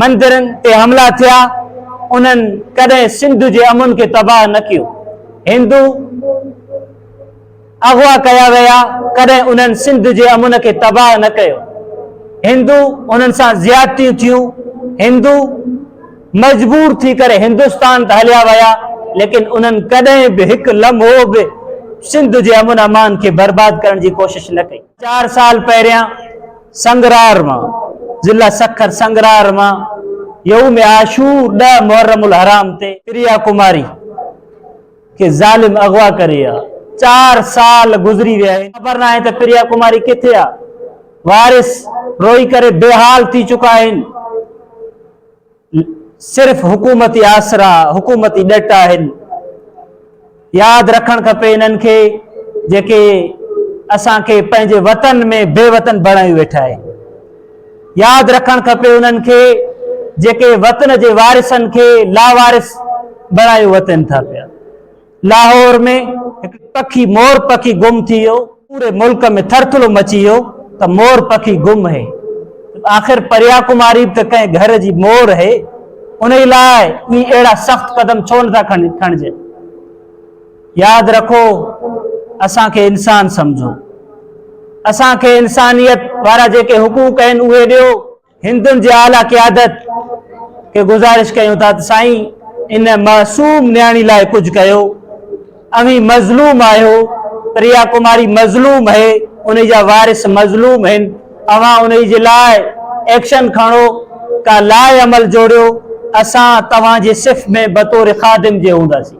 مندرن تي حملا ٿيا، انهن ڪڏهن سنڌ جي امن کي تباهه نه ڪيو. هندو اغوا ڪيا ويا، ڪڏهن انهن سنڌ جي امن کي تباهه نه ڪيو. هندو انهن سان زيادتيون ٿيون، هندو مجبور ٿي ڪري هندستان ته هليا ويا، ليڪن انهن ڪڏهن به هڪ لمحو به سنڌ جي امن امان کي برباد ڪرڻ جي ڪوشش نه ڪئي. چار سال پهريان سنگرار مان، ضلع سکر سنگرار مان، يوم عاشور ڏهه محرم الحرام تي، پريا ڪماري کي ظالم اغوا ڪري ويا چار سال گذري ويا آهن خبر ناهي ته پريا ڪماري ڪٿي آ وارث روئي ڪري بي حال ٿي چڪا آهن. صرف حڪومتي آسرا حڪومتي ڏٽ آهن ياد رکڻ کپي انهن کي جيڪي اسان کي پنهنجي وطن ۾ بي وطن بڻايو ويٺا آهن ياد رکڻ کپي انهن کي جيڪي وطن جي وارثن کي لاوارث بڻايو وتن ٿا پيا لاهور ۾ هڪ پکي مور پکي گم ٿي ويو، پوري ملڪ ۾ ٿرٿلو مچي ويو ته مور پکي گم هي، آخر پريا ڪماري به ته ڪنهن گهر جي مور هي، انهي لاء ئي اهڙا سخت قدم ڇو نه ٿا کڻجن. ياد رکو اسان کي انسان سمجهو، اسان کي انسانيت وارا جيڪي حقوق آهن اهي ڏيو، هندن جي اعليٰ قيادت کي گذارش ڪيون ٿا ته سائين ان معصوم نياڻي لاء ڪجهه ڪيو اوهين مظلوم آهيو پريا ڪماري مظلوم هي انهي جا وارث مظلوم هن اوهان انهي جي لاء ايڪشن کڻو ڪا لاء عمل جوڙيو اسان توهان جي صف ۾ بطور خادم جي هونداسين.